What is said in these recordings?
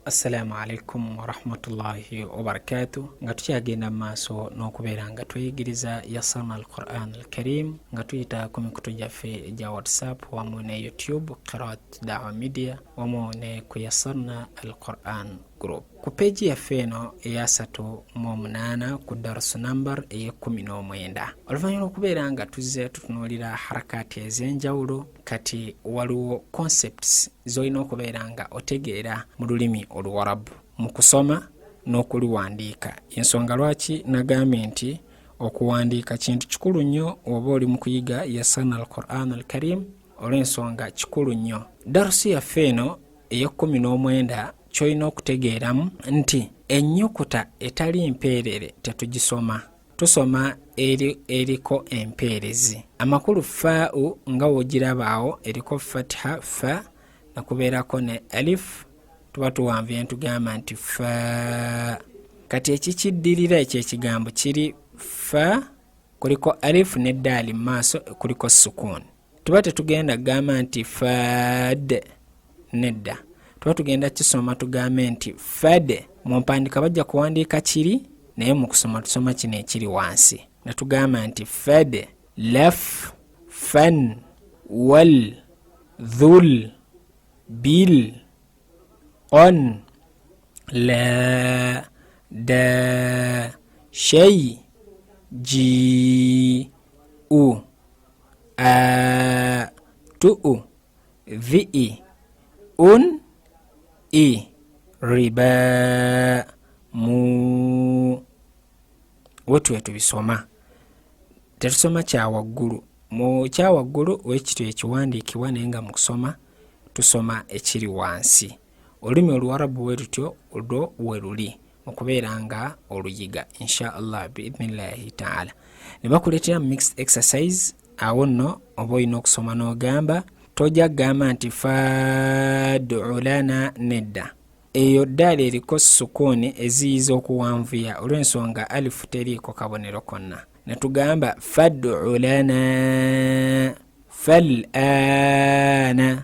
assalamu alaikum warahmatullahi wabarakatu nga tukyagenda mu maaso n'okubeera nga tweyigiriza yasama al quran al karim nga tuyita ku mikutu gyaffe gya whatsapp wamu ne youtube qirat dawa media wamu ne ku yasarna al quran group ku peegi yaffe eno eyasatu mu omunaana ku darusu nambar ey'ekkumi n'omwenda oluvannyuma okubeera nga tuzze tutunuulira harakaati ez'enjawulo kati waliwo concepts z'olina okubeera nga otegeera mu lulimi oluwarabu mu kusoma n'okuluwandiika ensonga lwaki nagambye nti okuwandiika kintu kikulu nnyo oba oli mu kuyiga yasana al quran al karim olw'ensonga kikulu nnyo darusi yaffe eno ey'ekkumi n'omwenda ky'olina okutegeeramu nti ennyukuta etali mpeerere tetugisoma tusoma eri eriko empeerezi amakulu faau nga wogirabaawo eriko fatiha fa nakubeerako ne alif tuba tuwanvuye ntugamba nti fa kati ekikiddirira ekyo ekigambo kiri fa kuliko alif ne daali mu maaso kuliko sukuuni tuba tetugenda kugamba nti fad nedda tuba tugenda kisoma tugambe nti fade mu mpandika bajja kuwandiika kiri naye mu kusoma tusoma kino ekiri wansi ne tugamba nti fade laf fan wal dhul bil on la da shei ji u a tu'u vi'i un i riba mu wetu wetubisoma tetusoma kyawaggulu mu kyawaggulu wekityo ekiwandiikibwa naye nga mukusoma tusoma ekiri wansi olulimi oluwarabu bwe lutyo olwo we luli mu kubeera nga oluyiga insha allah biidnillahi taala ne bakuleetera mu mixed exercise awo nno oba olina okusoma n'ogamba tojja kugamba nti fadulana nedda eyo ddaala eriko sukuuni eziyiza okuwanvuya olw'ensonga alifu teriiko kabonero konna ne tugamba fadulana fal ana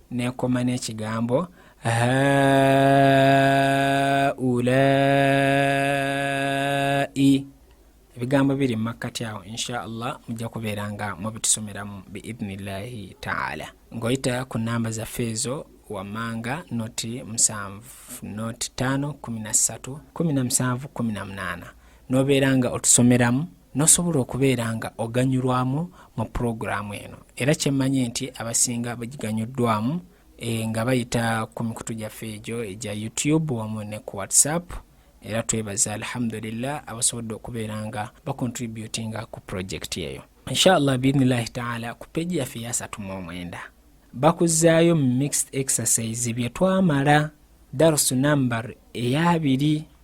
nekoma n'ekigambo haulai ebigambo biri mu makkati awo insha allah mujja kubeera nga mubitusomeramu biidnillahi taala ng'oyita ku namba zaffe ezo wammanga noti musanvu noti ttaano kumi na ssatu kumi na musanvu kumi na munaana n'obeera nga otusomeramu n'osobola okubeera nga oganyulwamu mu pulogulaamu eno era kyemmanyi nti abasinga bagiganyuddwamu e, nga bayita ku mikutu gyaffe egyo egya youtube wamu ne ku whatsapp era twebaza alhamdulillah abasobodde okubeera nga bacontributinga ku pulojekiti eyo inshallah biidnillahi taala ku peji yaffe yasatu mu omwenda bakuzaayo mixed exercise bye twamala darusu nambar eyabiri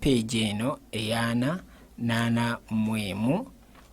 page eno eyaana naana mwemu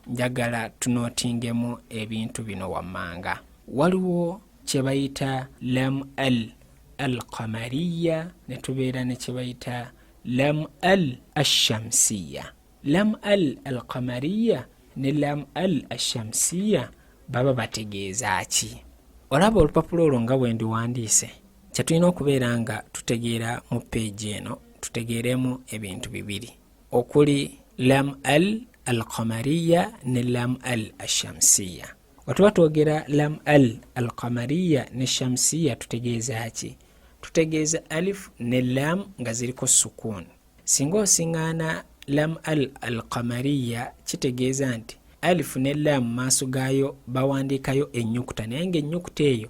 njagala tunotingemu ebintu bino wammanga waliwo kyebayita lam al al qamariya netubeera nekyebayita lam al ashamsiya lam al al qamariya ne lam al ashamsiya baba bategeeza ki olaba olupapula olwo nga bwendiwandiise kyetulina okubeera nga tutegeera mu peegi eno tutegeeremu ebintu bibiri okuli lam al alqamariya ne lam al ashamsiya wetuba twogera lam al alqamariya ne shamsiya tutegeeza ki tutegeeza alif ne lam nga ziriko sukuun singa osiŋaana lam al alqamariya kitegeeza nti alifu ne lam maaso gaayo bawandiikayo ennyukuta naye ngaennyukuta eyo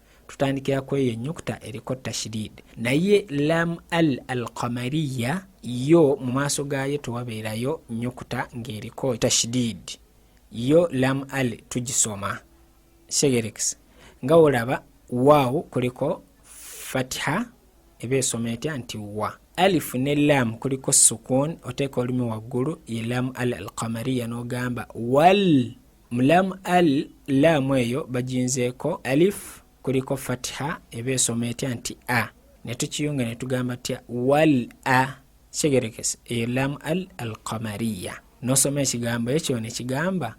tutandikira ku eyo enyukuta eriko tashidid naye lam al alqamariya yo mu maaso gaayo tewabeerayo nyukuta ng'eriko tashidid yo lam al tugisoma segerekisa nga olaba waawo kuliko fatiha eba esoma etya nti wa alifu ne lam kuliko sukun oteeka olumi waggulu ye lam al alqamariya n'ogamba wal Mulamu al laamu eyo bajinzeeko alif kuliko fatiha eba esoma etya nti a ne tukiyunga ne tugamba tya wal a kyegerekese eyo laamu al al qamariya nosoma ekigambo ekyo ne kigamba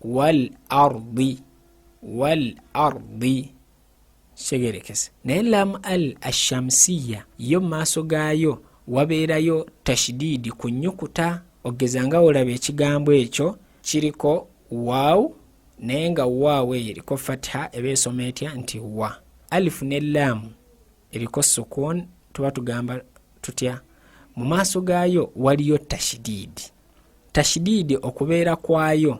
wal ardi wal ardi kitegerekese naye lam al ashamsiya yo mu maaso gaayo wabeerayo tashidiidi ku nyukuta ogeza nga olaba ekigambo ekyo kiriko waawu naye nga waawu eyo eriko fatiha eba esoma etya nti wa alifu ne laamu eriko sukuun tuba tugamba tutya mu maaso gaayo waliyo tashidiidi tashidiidi okubeera kwayo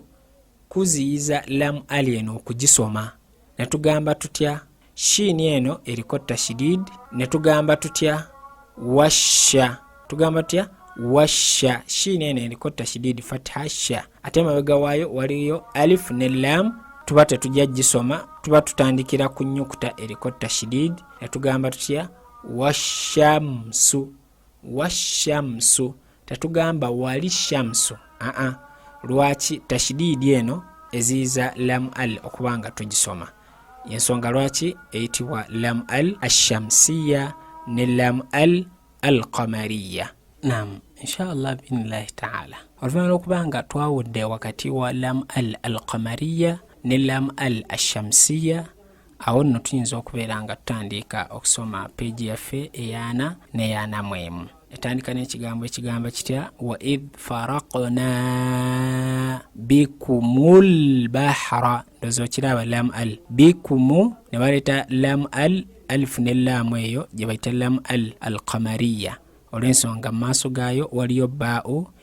kuziyiza lam ali eno okugisoma ne tugamba tutya shiini eno eriko tashidid ne tugamba tutya washa tugamba tutya washa shiini eno eriko tashidid fatha sha ate emabega waayo waliyo alif ne lam tuba tetujja gisoma tuba tutandikira ku nyukuta eriko tashidid ne tugamba tutya washamsu washamsu tatugamba wali shamsu aa uh -uh. lwaki tashidiidi eno eziyiza lam al okuba nga tugisoma yensonga lwaki eyitibwa lam al ashamsiya ne lam al al qamariya nam inshallah binillahi taala oluvanyuma lwokuba nga twawudde wakati wa lam al al qamariya ne lam al ashamsiya awo nno tuyinza okubeera nga tutandiika okusoma peegi yaffe eyaana neyaana mwemu etandika n'ekigambo ekigamba kitya wa id farakna bikumul bahra ndozi okiraba lam al bikumu ne baleeta lam al alifu ne laamu eyo gye bayita lam al alkamariya olw'ensonga mu maaso gaayo waliyo baau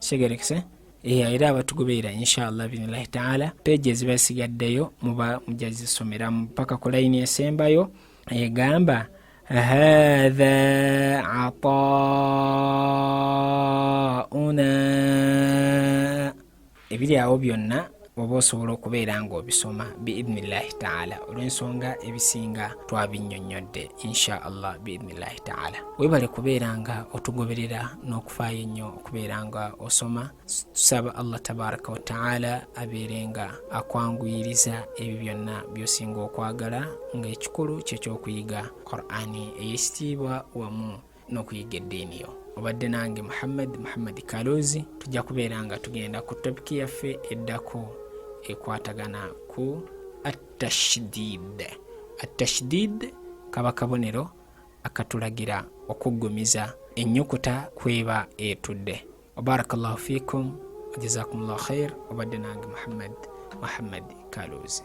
kigerekese eya era abatugoberera inshallah binilahi taala peegi eziba zisigaddeyo muba mujja zisomeramu paka ku layini esembayo egamba hadha ataauna ebiri awo byonna oba osobola okubeera ng'obisoma biidnillahi taala olw'ensonga ebisinga twabinnyonnyodde insha allah biidnillahi taala webale kubeera nga otugoberera n'okufaayo ennyo okubeera nga osoma tusaba allah tabaraka wataala abeere nga akwanguyiriza ebyo byonna by'osinga okwagala ng'ekikulu kyekyokuyiga qurani eyekitiibwa wamu n'okuyigga eddiini yo obadde nange muhammad muhammad kaloozi tujja kubeera nga tugenda ku topiki yaffe eddako ekwatagana ku atashdid atashdid kaba kabonero akatulagira okuggumiza ennyukuta kweba etudde wabarakallahu fikum wajazakumullahu khair obadde nange muhammad muhammad kaloozi